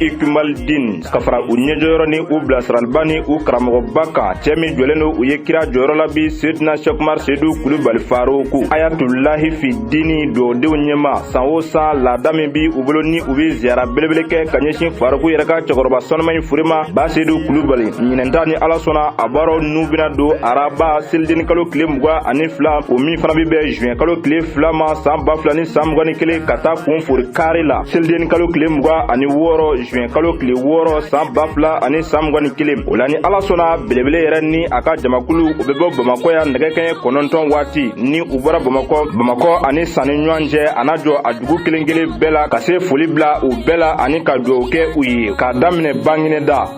Ikimalidin ka fara u ɲɛjɔyɔrɔ ni u bilasiraliba ni u karamɔgɔba kan cɛ min jɔlen don u ye kira jɔyɔrɔ la bi seyidina sɛku umaru seyidu kulubali faruku ayatulahi fi dini dɔdenw ɲɛma san o san laada min bi u bolo ni u bɛ ziyara belebele kɛ ka ɲɛsin faruku yɛrɛ ka cɛkɔrɔba sanuma in fure ma ba seyidu kulubali ɲinan ta ni ala sɔnna a baaraw n'u bɛna don araba selideni kalo tile mugan ani fila o min fana bɛ bɛn juin kalo tile fila ma saan ba fila ni saan mugan ni kelen ka taa kun fori kari la selideni kalo tile mugan ani wɔɔrɔ juin kalo tile wɔɔrɔ saan ba fila ani saan mugan ni kelen o la ni ala sɔnna belebele yɛrɛ ni a ka jamakulu u bɛ bɔ bamakɔ yan nɛgɛ kɛɲɛ kɔnɔntɔn waati ni u bɔra bamakɔ bamakɔ ani san ni ɲɔgɔn cɛ a na jɔ a dugu kelen kelen bɛɛ la ka se foli bila u bɛɛ la ani ka dugawu kɛ u ye k'a daminɛ baginɛda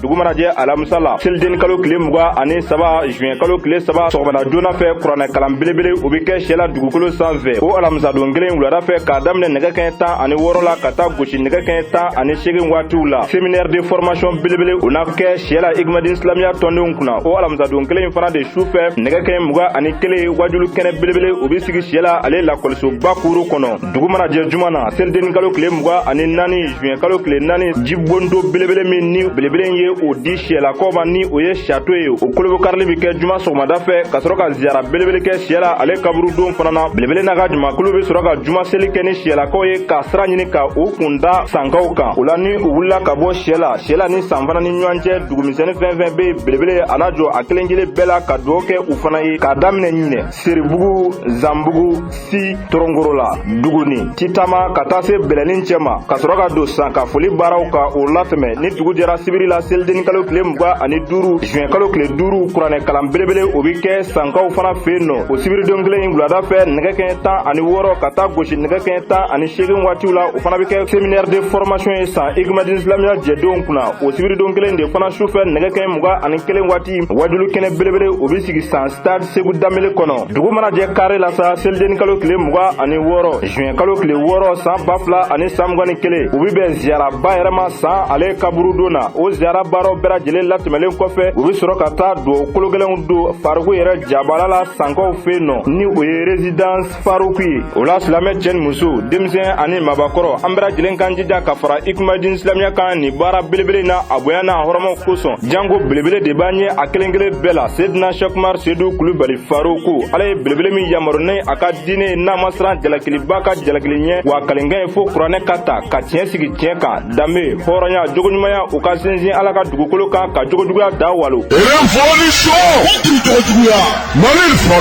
dugu mana jɛ alamisa la selideni kalo tile muga ani saba juin kalo tile saba sɔgɔmada joona fɛ kuranɛ kalan belebele o be kɛ siyɛla dugukolo san fɛ o alamisadon kelen wulada fɛ k'a daminɛ nɛgɛ kɛɲɛ tan ani wɔɔrɔ la ka taa gosi nɛgɛ kɛɲɛ tan ani segin waatiw la séminaire de formation belebele o na kɛ siyɛla igmadin silamiya tɔndenw kunna o alamisadon kelen fana de su fɛ nɛgɛ kɛɲɛ muga ani kelen wajuli kɛnɛ belebele o be sigi siyɛla ale lakɔlisoba kuuru kɔnɔ dugu mana jɛ juma na selideni kalo tile muga ani naani juin kalo tile naani jibondo belebele min ni belebele ye o di siyɛlakaw ma ni o ye château ye o kolobokarili bɛ kɛ juma sɔgɔmada fɛ ka sɔrɔ ka ziyara belebele kɛ siyɛla ale kaburudon fana na belebele n'a ka jamakulu bɛ sɔrɔ ka juma seli kɛ ni siyɛlakaw ye ka sira ɲini ka u kun da sankaw kan o la ni u wulila ka bɔ siyɛla siyɛla ni san fana ni ɲɔgɔn cɛ dugumisɛnni fɛn fɛn bɛ yen belebele a na jɔ a kelen kelen bɛɛ la ka dugawu kɛ u fana ye k'a daminɛ ɲinɛ seribugu zanbugu si toronkorola duguni titama ka taa se bɛlɛnin cɛ ma ka sɔrɔ ka don san ka foli baaraw ka o latɛmɛ ni dugu jɛra sibiri la selidenni kalo tile muga ani duuru juin kalo tile duuru kuranɛ kalan belebele o be kɛ sankaw fana fɛ yen nɔ o sibiridon kelen in wulada fɛ nɛgɛ kɛɲɛ tan ani wɔɔrɔ ka taa gosi nɛgɛ kɛɲɛ tan ani seegin waatiw la o fana be kɛ séminaire de formation ye san igmadin silamiya jɛdenw kunna o sibiridon kelen de fana su fɛ nɛgɛ kɛɲɛ muga ani kelen waati wajuli kɛnɛ belebele o be sigi san stade seku danbele kɔnɔ dugu mana jɛ kari la sa selideni kalo tile muga ani wɔɔrɔ juin kalo tile wɔɔrɔ saan ba fila ani saan mugan ni kelen u be bɛn ziyaraba yɛrɛ ma saan ale kaburudon na o ziyara baaraw bɛɛ lajɛlen latɛmɛlen kɔfɛ u be sɔrɔ ka taa duwawu kologɛlɛnw don faruku yɛrɛ jabala la sankaw fɛ yen nɔ ni o ye résidence faruku ye o la silamɛ cɛ ni muso denmisɛn ani mabakɔrɔ an bɛɛ lajɛlen k'an jija ka fara ikumadin silamiya kan nin baara belebele na a bonya n'a hɔrɔmaw kosɔn jango belebele de b'an ye a kelen kelen bɛɛ la sedina shɛkumar sedu kulubali faroku ala ye belebele min yamaru ni a ka diinɛ ye n'a ma siran jalakilibaa ka jalakili ɲɛ wa kalenkan ye fo kuranɛ ka ta ka tiɲɛ sigi tiɲɛ kan danbe hɔrɔnya jogoɲumanya u ka sinsin ala ka dugukolo kan ka jogojuguya da walo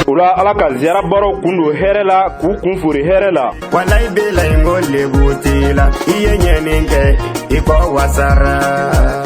o la ala ka ziyara baaraw kun don hɛrɛ la k'u kun fori hɛrɛ la walayi bilayi ko lebu t'i la i ye ɲɛnin kɛ i kɔ wasara